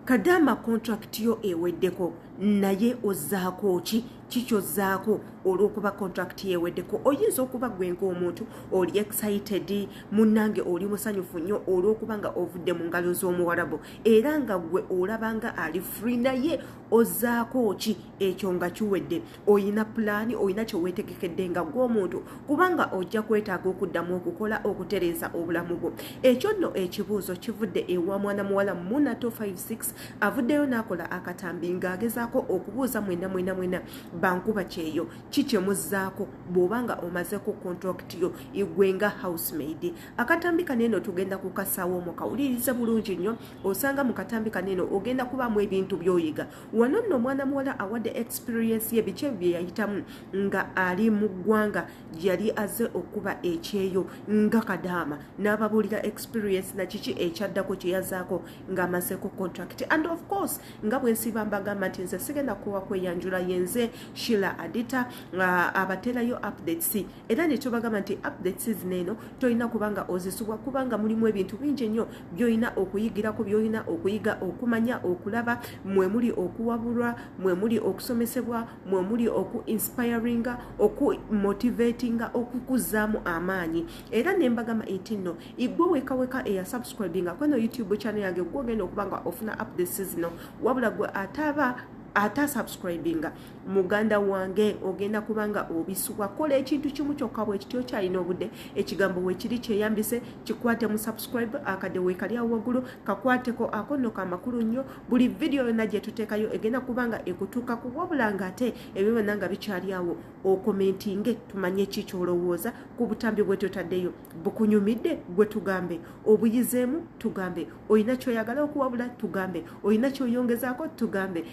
kadaama contract yo eweddeko naye ozzaako ki kikyozzaako olw'okuba contract yeweddeko oyinza okuba gwe ngaomuntu oli excited munnange oli musanyufu nnyo olw'okuba nga ovudde mu ngalo z'omuwarabu era nga gwe olabanga ali free naye ozzaako ki ekyo nga kiwedde oyina pulaani oyina kyeweetegekedde nga gw'omuntu kubanga ojja kwetaaga okuddamu okukola okutereeza obulamu bwo ekyo nno ekibuuzo kivudde ewa mwana muwala muna 256 avuddeyo n'akola akatambi ng'agezaako okubuuza mwena mwena mwena bankuba kyeyo ki kyemuzzaako bw'oba nga omazeeko contract yo igwe nga housemaid akatambi kano eno tugenda kukasaawo mu kawulirize bulungi nnyo osanga mu katambi kano eno ogenda kubaamu ebintu by'oyiga wano nno omwana muwala awadde experiensi ye biki ebyo bye yayitamu nga ali mu ggwanga yali aze okuba ekyeyo nga kadaama n'ababuulira experiensi na kiki ekyaddako kye yazaako ng'amazeeko contract and of course nga bwe nsiiba mbagamba nti nze sigenda kuwa kweyanjula yenze shila adita uh, abaterayo updates era netubagamba nti update season eno tolina kubanga ozisubwa kubanga mulimu ebintu bingi nnyo byolina okuyigirako byolina okuyiga okumanya okulaba mwemuli okuwabulwa mwemuli okusomesebwa mwemuli oku inspiringa oku motivatinga okukuzaamu amaanyi era nembagamba nti nno igwe wekaweka eya subscribinga kweno youtube channel yange gwogenda okubanga ofuna update season wabula gwe ataaba ate asubscribinga muganda wange ogenda kubanga obisubwa kola ekintu kimu kyokka bwekityo kyalina obudde ekigambo wekiri kyeyambise kikwate mu subscribe akadde wekali awo waggulu kakwateko akonno ka makulu nnyo buli vidiyo yonna gyetuteekayo egenda kubanga ekutuuka ku wabula nga ate ebyo byonna nga bikyali awo okomentinge tumanye ki kyolowooza ku butambi bwetutaddeyo bukunyumidde gwe tugambe obuyizeemu tugambe olina kyoyagala okuwabula tugambe olina kyoyongezaako tugambe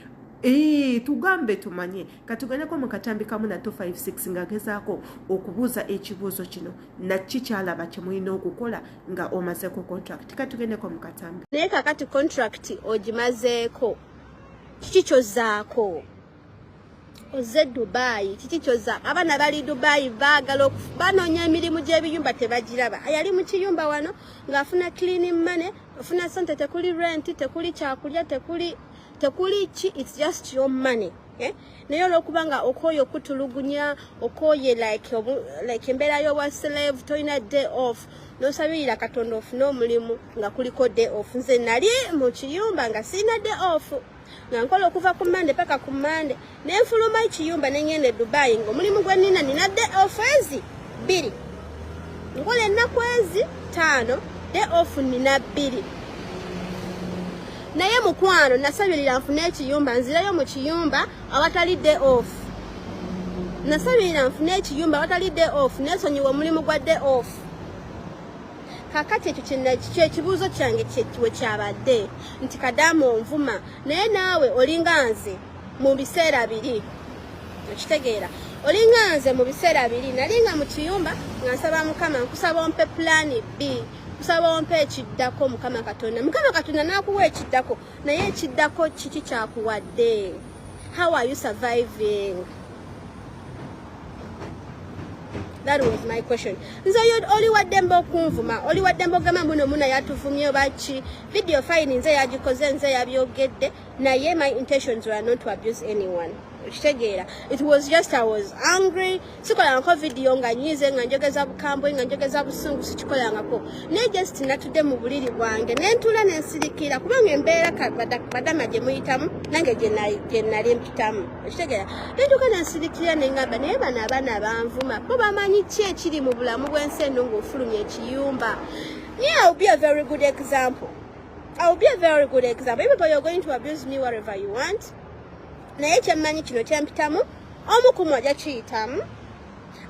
Eee, tugambe tumanye katugendeko mu katambi kamu nato 56 nga gezaako okubuuza ekibuuzo kino nakki kyalaba kyemulina okukola nga omazeeko contract katugendeko mu katambi naye kakati contract ogimazeeko kiki kyozaako ozze dubayi kiki kyoza abaana bali dubayi baagala banoonya emirimu gy'ebiyumba tebagiraba yali mu kiyumba wano ng'afuna cleaning money ofuna sente tekuli renti tekuli kyakulya tekuli tekuli ki its just your money Eh? naye olwokuba nga okooye okutulugunya okooye like embeera y'obwa slave tolina day off nosabirira katonda ofune omulimu nga kuliko day off nze nali mu kiyumba nga sirina day off nga nkola okuva ku mande paka ku mande nenfuluma ekiyumba nengenda e dubai nga omulimu gwenina nina de ofezi bbiri nkola ennaku ezi taano de ofu nina bbiri naye mukwano nasabirira nfune ekiyumba nzirayo mu kiyumba awatali de ofu nasabirira nfune ekiyumba awatali de ofu nesonyiwa omulimu gwa de ofu kakati ekyo kyekibuuzo kyange we kyabadde nti kadaama onvuma naye naawe olinga nze mu biseera biri okitegeera olinga nze mu biseera biri nali nga mu kiyumba nga nsaba mukama nkusaba ompe pulaani b kusaba ompe ekiddako mukama katonda mukama katonda n'akuwa ekiddako naye ekiddako kiki kyakuwadde how are you surviving that was my question nze oyo oli waddembe okunvuma oli waddembe ogamba muno muna yatuvumye oba ki video fine nze yagikoze nze yabyogedde naye my intentions were not to abuse anyone okitegeera it was just i was angry sikolangako vidiyo nga nyize nga njogeza bukambwe nga njogeza busungu sikikolangako naye just natudde mu buliri bwange nentuula nensirikira kubanga embeera badama gye muyitamu nange gye nali mpitamu okitegeera nentuuka nensirikira nengamba naye bano abaana banvuma bo bamanyi ki ekiri mu bulamu bw'ensi eno ng'ofulumya ekiyumba naye iwill be a very good example iwill be a very good example even though you're going to abuse me whatever you want naye kyemmanyi kino kyempitamu omu kumu aja kiyitamu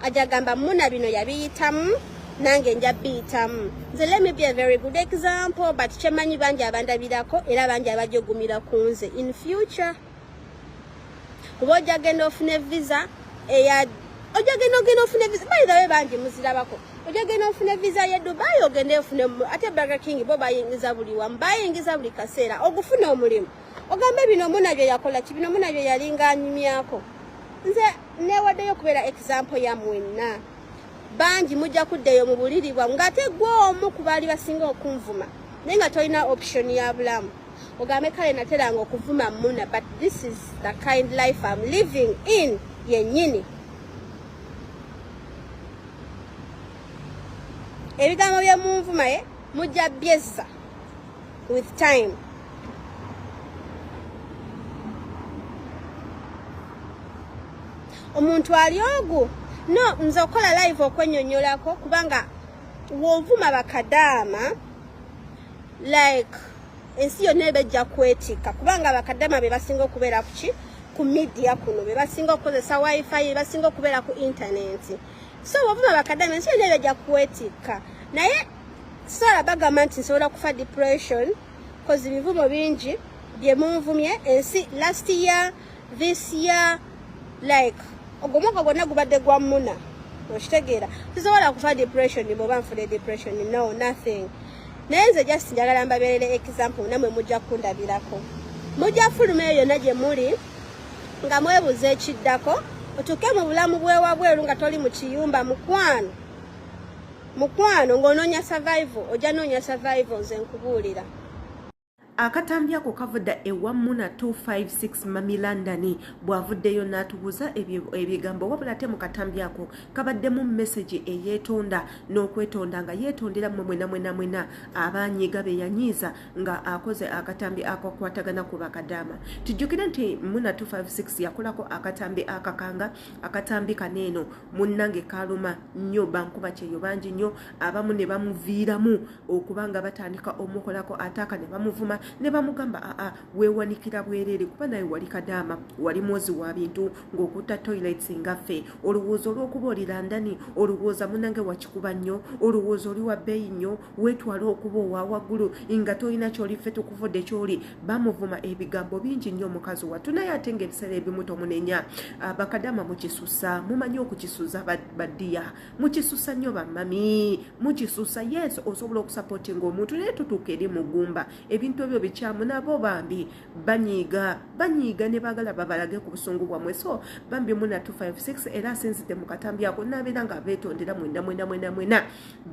aja gamba muna bino yabiyitamu nange nja biyitamu nze let me be a very good example but kyemmanyi bangi abandabirako era bangi abajogumira ku nze in future kuba ojja genda ofune visa eya ojja genda ogenda ofune visa bayirawe bangi muzirabako ojja genda ofune visa ye dubai ogende ofune ate burger king bo bayingiza buli wamu bayingiza buli kaseera ogufuna omulimu ogamba bino muna bye yakola ki bino muna bye yalinga anyumyako nze newaddeyo okubeera exampo ya mwenna bangi mujja kuddeyo mu buliri bwamu ng'ate gwe omu ku baali basinga okunvuma naye nga tolina option ya bulamu ogambe kale nateranga okuvuma muna but this is the kind life am living in yennyini ebigambo byemunvumaye mujja byezza with time omuntu ali ogu no nze okukola live okwenyonyolako kubanga wovuma bakadaama like ensi yonna ebejja kwetikka kubanga bakadaama be basinga okubeera kuki ku media kuno be basinga okukozesa wifi be basinga okubeera ku intaneti so wovuma bakadaama ensi yonna ebejja kwetikka naye Sara bagamba nti nsobola kufa depression cause ebivumo bingi bye munvumye ensi last year this year like ogwo mwaka gwonna gubadde gwa muna okitegeera sisobola kufa depression bwoba nfune depression no nothing naye nze just njagala mbabeerere example namwe mujja kundabirako mujja fuluma eyo yonna gye muli nga mwebuuza ekiddako otuuke mu bulamu bwewabweru nga toli mu kiyumba mukwano mukwano ng'onoonya survival ojja noonya survival nze nkubuulira akatambi ako kavuda ewa muna 256 mami london bwavuddeyo n'atubuuza ebigambo wabula ate mu katambi ako kabaddemu mesagi eyeetonda n'okwetonda nga yeetondera mwe mwena mwena mwena abanyiiga be yanyiiza nga akoze akatambi akakwatagana ku bakadaama tujjukire nti muna 256 yakolako akatambi akakanga akatambi kano eno munnange kaluma nnyo bankuba kyeyo bangi nnyo abamu ne bamuviiramu okuba nga batandika omukolako ataaka ne bamuvuma ne bamugamba aa weewanikira bwereere kuba naye wali kadaama wali mwozi wa bintu ng'okutta toilets ngaffe olowooza olw'okuba oli landani olowooza munnange wakikuba nnyo olowooza oli wa bbeeyi nnyo wetwala okuba owawaggulu nga tolina kyoli ffe tukuvudde kyoli bamuvuma ebigambo bingi nnyo omukazi wattu naye ate nga ebiseera ebimu tomunenya ah, bakadama mukisusa mumanyi okukisuza badiya mukisusa nnyo bamami mukisusa yes osobola okusapotinga omuntu naye tutuuka eri mugumba ebintu ebyo bikyamu nabo bambi banyiiga banyiiga ne bagala babalage ku busungu bwamwe so bambi muna 256 era asinzidde mu katambi ako nabeera nga betondera mwenda mwena mwena mwena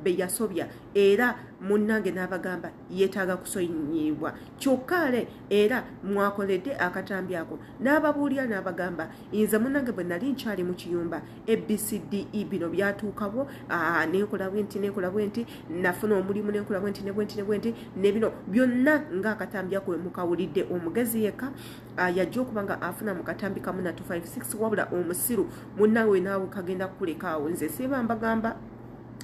beyasobya era munnange n'abagamba yeetaaga kusonyiyibwa kyokka ale era mwakoledde akatambi ako n'ababuulira n'abagamba nze munnange bwe nali nkyali mu kiyumba abcde bino byatuukawo nenkola bwenti nenkola bwenti nafuna omulimu nenkola bwenti ne bwenti ne bwenti ne bino byonna ng'akatambi ako we mukawulidde omugezi yekka yajja okuba nga afuna mu katambi kamu na 256 wabula omusiru munnange we naawe kagenda kukulekaawo nze siba mbagamba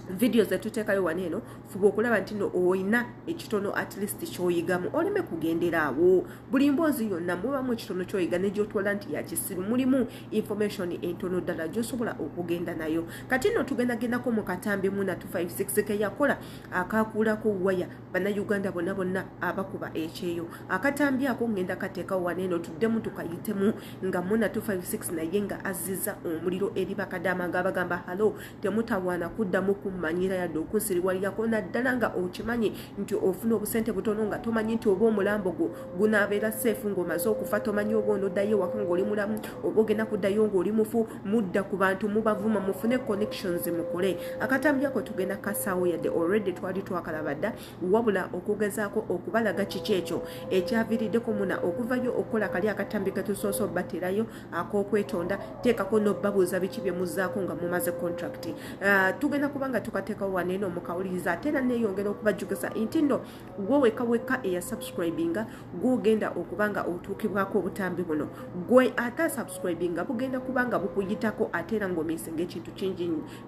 vidiyo zetuteekayo wano eno fuba okulaba nti no olina ekitono at least kyoyigamu oleme kugendera awo buli mboozi yonna mubamu ekitono kyoyiga negyotwala nti yakisiru mulimu information entono ddala gyosobola okugenda nayo kati no tugendagendako mu katambi muna 256 keyakola akakuulako waya bannayuganda bonna bonna abakuba ekyeyo akatambi ako ngenda kateekawo wano eno tuddemu tukayitemu nga muna 256 naye nga azziza omuliro eri bakadaama nga bagamba halo temutawaana kuddamu kummanyira yadde okunsiriwalirako naddala nga okimanyi nti ofuna obusente butono nga tomanyi nti oba omulambo gwo gunaabeera seefu ng'omaze okufa tomanyi oba onoddayo ewaka ng'oli mulamu oba ogenda kuddayo ng'oli mufu mudda ku bantu mubavuma mufune connections mukole akatambi ako tugenda kasaawo yadde already twali twakalaba dda wabula okugezaako okubalaga kiki ekyo ekyaviiriddeko muna okuvayo okukola kali akatambi ketusoose obaterayo akokwetonda teekako nobabuuza biki byemuzaako nga mumaze contract uh, tugenda kuba nga tukateekawo waneeno mukawuliriza ate era neeyongera okubajjukiza nti nno gwe weka weka eya subscribinga gwogenda okuba nga otuukibwako obutambi buno gwe ate subscribinga bugenda kuba nga bukuyitako ate era ngaomisinga ekintu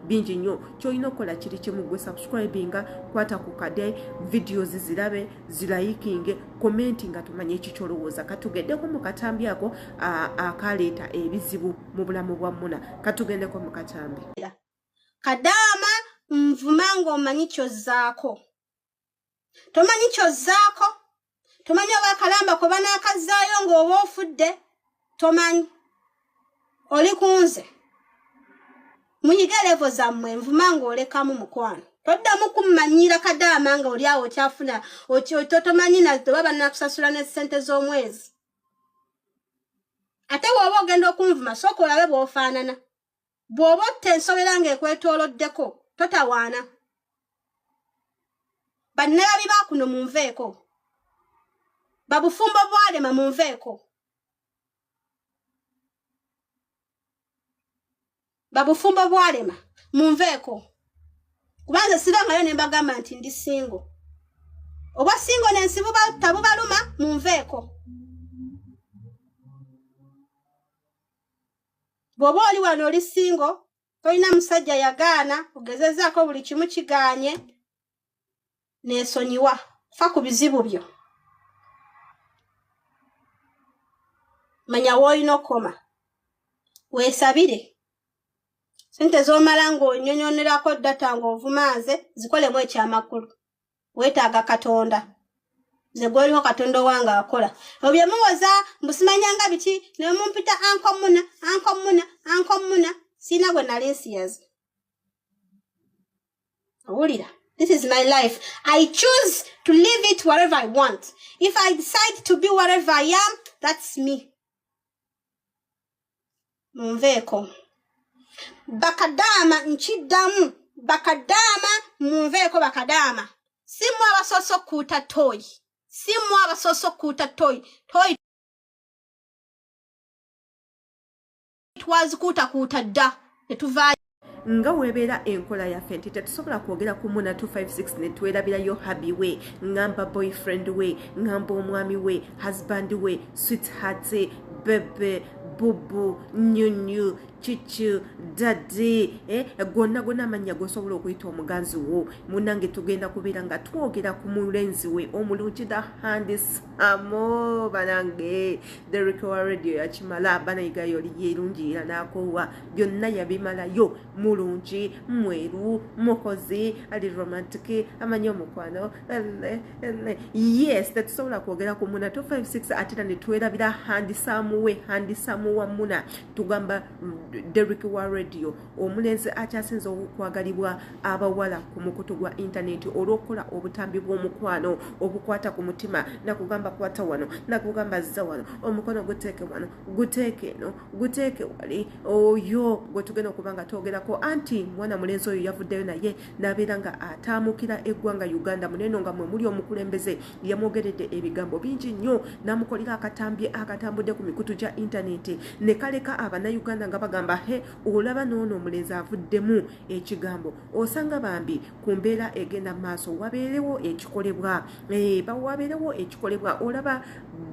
bingi nnyo kyolina okukola kiri kimu gwe subscribinga kwata ku kade videos zirabe zilayikinge komenti nga tumanye ekikyolowooza katugendeko mu katambi ako akaleeta ebizibu mu bulamu bwa muna katugendeko mu katambi kadaama nvuma ng'omanyi kyozzaako tomanyi kyozzaako tomanyi oba akalamba kwe banaakazzaayo ng'oba ofudde tomanyi oli kunze muyige levo zammwe nvuma ng'olekamu mukwano toddamu kummanyiira kadaama nga oli awo okyafuna totomanyi naoba banakusasula ne ssente z'omwezi ate wooba ogenda okunvuma sooka olabe bw'ofaanana bw'oba otta ensobera ng'ekwetooloddeko totawaana bannalabi ba kuno munveeko babufumbo bwalema munveeko babufumbo bwalema munveeko kuba nze sibangayo ne mbagamba nti ndi singo obwa singo nensi tabubaluma munveeko bw'oba oli wano oli singo tolina musajja yagaana ogezezaako buli kimu kigaanye neesonyiwa fa ku bizibu byo manya woolina okukoma weesabire sente z'omala ng'onyonyonerako data ng'ovuma nze zikolemu ekyamakulu wetaaga katonda nze gwoliwo katonda owange akola ebyo bye muwoza mbu simanyanga biki ne mumpita anko muna anko muna anko muna siina gwe nali nsiyazi owulira this is my life i choose to live it wherever i want if i decide to be wherever i am that's me munveeko bakadaama nkiddamu bakadaama munveeko bakadaama si mwe abasoose okukuuta tooyi si mwe abasoose okukuuta tooyi tooyi twazikuutakuuta dda ne tuvaayo nga webeera enkola yaffe nti tetusobola kwogera ku muna 256 netwerabirayo habi we ngamba boyfriend we ngamba omwami we husband we sweetheart bebe bubu nyunyu kiki dadi eh, gonna gonna amannya gosobola okuyita omuganzi wo munange tugenda kubeera nga twogera ku mulenzi we omulungi the handis amo banange derikowa radio yakimala banayigayo oli yerungi era nakowa byonna yabimalayo mulungi mweru mukozi ali romantic amanyi omukwano yes tetusobola kwogera ku muna 256 atera netwerabira handisamuwe handisamu wa muna tugamba derik wa radio omulenzi akyasinza okwagalibwa abawala ku mukutu gwa intaneti olwokukola obutambi bw'omukwano obukwata ku mutima nakugamba kwata wano nakugamba zza wano omukono guteeke wano guteeke eno guteeke wali oyo gwe tugenda okuba nga twogerako anti mwana mulenzi oyo yavuddeyo naye n'abeera nga ataamukira eggwanga uganda muneeno nga mwe muli omukulembeze yamwogeredde ebigambo bingi nnyo n'amukolera akatambye akatambudde ku mikutu gya intaneti ne kaleka abanauganda nga bagamba he olaba n'ono omulenzi avuddemu ekigambo osanga bambi ku mbeera egenda maaso wabeerewo ekikolebwa eh, wabeerewo ekikolebwa olaba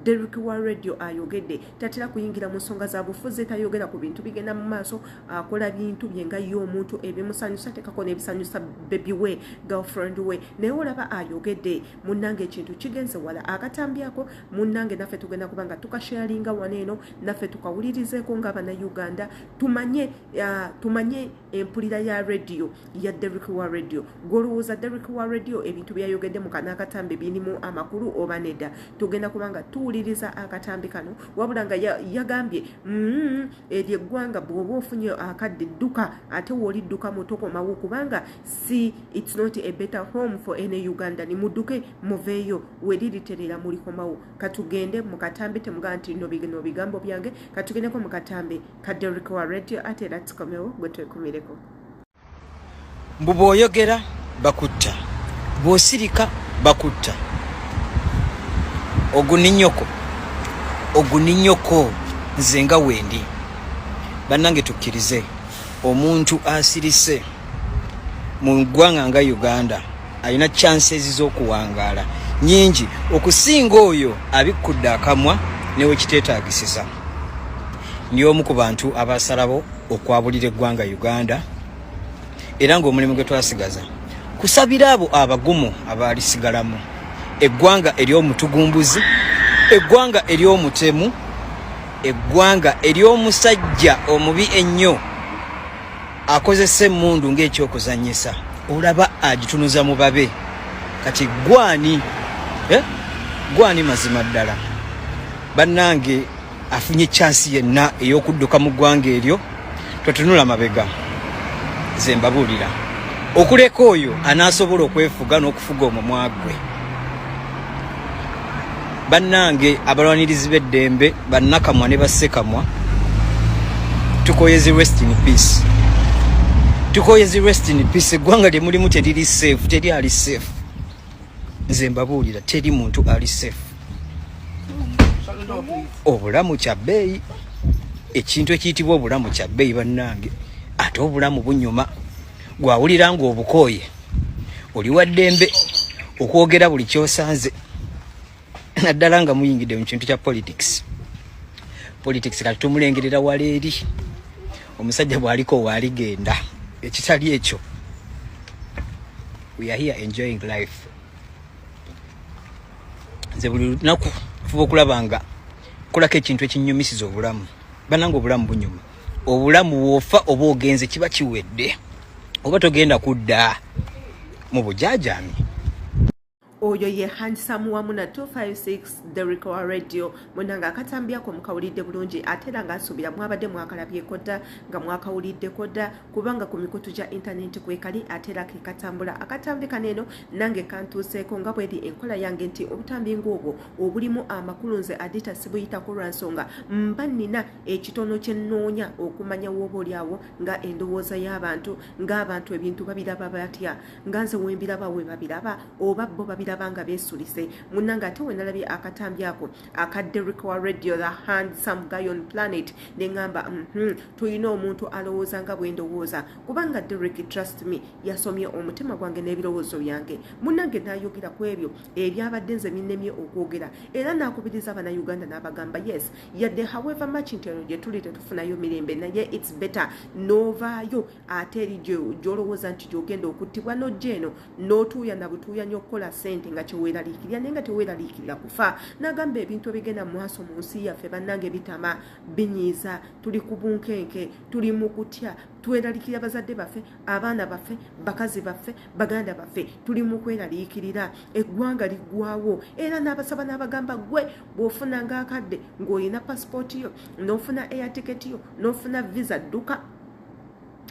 derik wa radio ayogedde tatera kuyingira mu nsonga za bufuzi tayogera ku bintu bigenda mu maaso akola bintu bye nga ye omuntu ebimusanyusa atekako n'ebisanyusa bebi we girlfriend we naye olaba ayogedde munnange ekintu kigenze wala akatambyako munnange naffe tugenda kuba nga tukasharinga wano eno naffe tukawulirizeeko nga abana uganda tumanye uh, tumanye empulira ya radio ya Derrick wa radio gwolowooza Derrick wa radio ebintu byeyayogedde mu kana akatambi birimu amakulu oba nedda tugenda kuba nga tuwuliriza akatambi kano wabula nga yagambye mm, eryo eggwanga bw'oba ofunye akadde dduka ate woolidduka mutokomawo kubanga si its not a better home for any uganda ni mudduke muveeyo weririterera mulikomawo katugende mu katambi temugaa nti no bigambo byange katugendeko mu katambi kadde oliko wa radio ate era tukomewo gwe twekumireko mbu bwoyogera bakutta bwosirika bakutta oguninyoko oguninyoko nze nga wendi bannange tukkirize omuntu asirise mu ggwanga nga uganda alina chances z'okuwangaala nyingi okusinga oyo abikkudde akamwa newekiteetagisiza ndi omu ku bantu abasalabo okwabulira eggwanga uganda era ng'omulimu gwe twasigaza kusabira abo abagumu abaalisigalamu eggwanga ery'omutugumbuzi eggwanga ery'omutemu eggwanga ery'omusajja omubi ennyo akozesa emmundu ng'ekyokuzannyisa olaba agitunuza mu babe kati gwani eh? gwani mazima ddala bannange afunye chansi yenna ey'okudduka mu ggwanga eryo totunula mabega ze mbabuulira okuleka oyo anaasobola okwefuga n'okufuga omumwa gwe bannange abalwanirizi b'eddembe bannakamwa ne bassekamwa tukoyezi rest in peace tukoyezi rest in peace eggwanga lye mulimu teriri safe teri ali safe nze mbabuulira teri muntu ali safe obulamu kya bbeeyi ekintu ekiyitibwa obulamu kya bbeeyi bannange ate obulamu bunyuma gwawulira nga obukooye oli wa ddembe okwogera buli kyosanze naddala nga muyingidde mu kintu kya politics politics kati tumulengerera wala eri omusajja bwaliko waaligenda ekitali ekyo we are here enjoying life nze buli lunaku fuba okulaba nga kolako ekintu ekinyumisiza obulamu bananga obulamu bunyuma obulamu wofa oba ogenze kiba kiwedde oba togenda kudda mu bujajami oyo ye handisamu wamu na 256 derik wa radio munanga akatambyako mukawulidde bulungi ate era ngaasuubira mwabadde mwakalabyeko dda nga mwakawuliddeko dda kubanga ku mikutu gya intanenti kwekali ate era kekatambula akatambi kano eno nange kantuuseeko nga bweri enkola yange nti obutambi ngaobwo obulimu amakulu nze adita sibuyitako lwa nsonga mba nina ekitono kye nnoonya okumanya wooba oli awo nga endowooza y'abantu ng'abantu ebintu babiraba batya nga nze wembiraba we babiraba oba bo babiraba nga beesulise munna nga ate wenalabye akatambi ako aka derrick wa radio the hand some guy on planet ne ŋŋamba mhmm, tulina omuntu alowooza nga bwe ndowooza kubanga derrick trust me yasomye omutima gwange n'ebirowoozo byange munnange n'ayogera ku ebyo ebyabadde nze binnemye okwogera era n'akubiriza abana uganda n'abagamba yes yadde however much nti eno gye tuli tetufunayo mirembe naye its better n'ovaayo ate eri gyolowooza nti gyogenda okuttibwa n'ojja eno n'otuuya na butuuya nyo okukola sente nga kyeweeraliikirira naye nga teweeraliikirira kufa n'agamba ebintu ebigenda mu maaso mu nsi yaffe bannange bitama binyiiza tuli ku bunkenke tuli mu kutya tweralikira bazadde baffe abaana baffe bakazi baffe baganda baffe tuli mu kweraliikirira eggwanga liggwawo era n'abasaba n'abagamba gwe bw'ofuna ng'akadde ng'olina pasipooti yo n'ofuna air tiketi yo n'ofuna visa dduka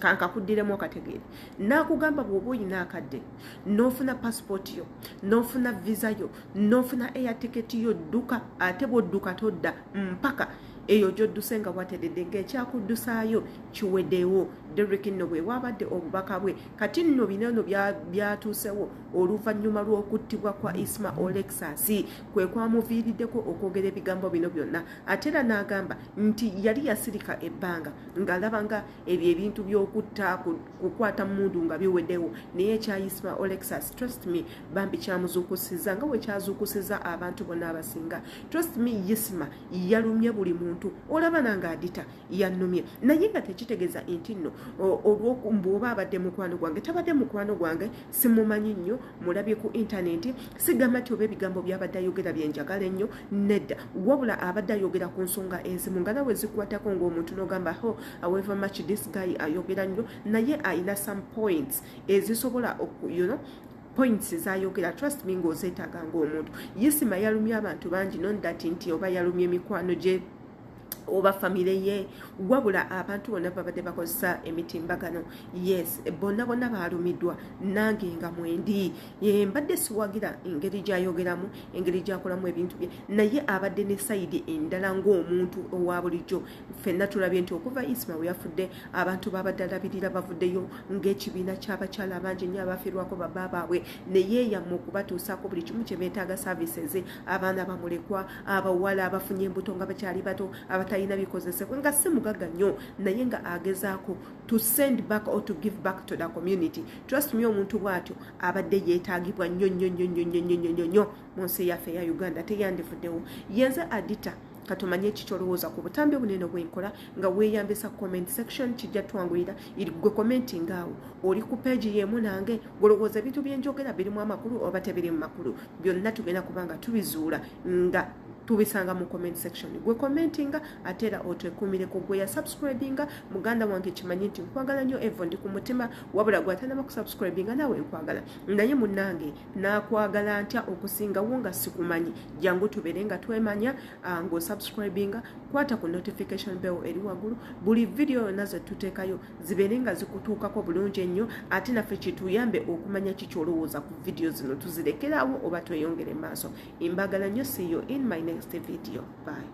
kankakuddiremu akategeere nakugamba bwoba olina akadde nofuna pasipooti yo nofuna visa yo nofuna eyatiketi yo dduka ate bwodduka todda mpaka eyo gyodduse nga watedede ngaekyakuddusayo kiwedewo derik nno bwewabadde obubaka bwe kati nno binano byatuusewo oluvannyuma lw'okuttibwa kwa isma olexas kwe kwamuviiriddeko okwogera ebigambo bino byonna ate era n'agamba nti yali yasirika ebbanga ng'alaba nga ebyo ebintu by'okutta kukwata mundu nga biwedewo naye ekya isma olexas trust me bambi kyamuzuukusiza nga wekyazuukusiza abantu bonna abasinga trust me isma yalumye buli muntu olaba nange adita yannumye naye nga tekitegeza nti nno olwombuoba abadde mukwano gwange tabadde mukwano gwange simumanyi nnyo mulabye ku intaneti sigamba nti oba ebigambo byabadde ayogera byenjagala ennyo nedda wabula abadde ayogera ku nsonga enzimu nga nawe zikwatako ngaomuntu nogamba ho aweva much this guy ayogera nnyo naye alina some points ezisobola you know, points zayogera trust me ngaozeetaaga ngaomuntu yisima yalumya abantu bangi non that nti oba yalumya emikwano gye oba famire ye wabula abantu bonna babadde bakozesa emitimbagano yes bonna bonna baalumidwa nange nga mwendi mbadde siwagira engeri gyayogeramu engeri gyakolamu ebintu bye naye abadde ne sayidi endala ng'omuntu owa bulijjo fenna tulabye nti okuva isma we yafudde abantu babadde alabirira bavuddeyo ng'ekibiina ky'abakyala abangi nnyo abafirwako baba baabwe naye yamma okubatuusaako buli kimu kye beetaaga services abaana bamulekwa abawala abafunye embuto nga bakyali bato abatalina bikozesebwa nga si mugaga nnyo naye nga agezaako to send back or to give back to the community trust me omuntu bwatyo abadde yeetagibwa nnyo nnyo nnyo nnyo nnyo nnyo nnyo nnyo mu nsi yaffe eya uganda teyandivuddewo yenze adita katumanye ekikyolowooza ku butambi obunene obwenkola nga weeyambisa comment section kijja twanguyira gwe komenti ngaawo oli ku peegi yeemu nange golowooza ebintu byenjogera birimu amakulu oba tebiri mu makulu byonna tugenda kuba nga tubizuula nga tubisanga mu comment section gwe commentinga ate era otwekumireko gwe yasubscribinga muganda wange kimanyi nti nkwagala nnyo evo ndi ku mutima wabula gwe atanaba kusubscribinga naawe nkwagala naye munange nakwagala ntya okusingawo nga sikumanyi jangu tubeere nga twemanya ah, ng'osubscribinga kwata ku notification bell eri waggulu buli vidiyo yonna ze tuteekayo zibeere nga zikutuukako bulungi ennyo ate naffe kituyambe okumanya ki kyolowooza ku vidiyo zino tuzirekeraawo oba tweyongere maaso embagala nnyo siyo in my next video by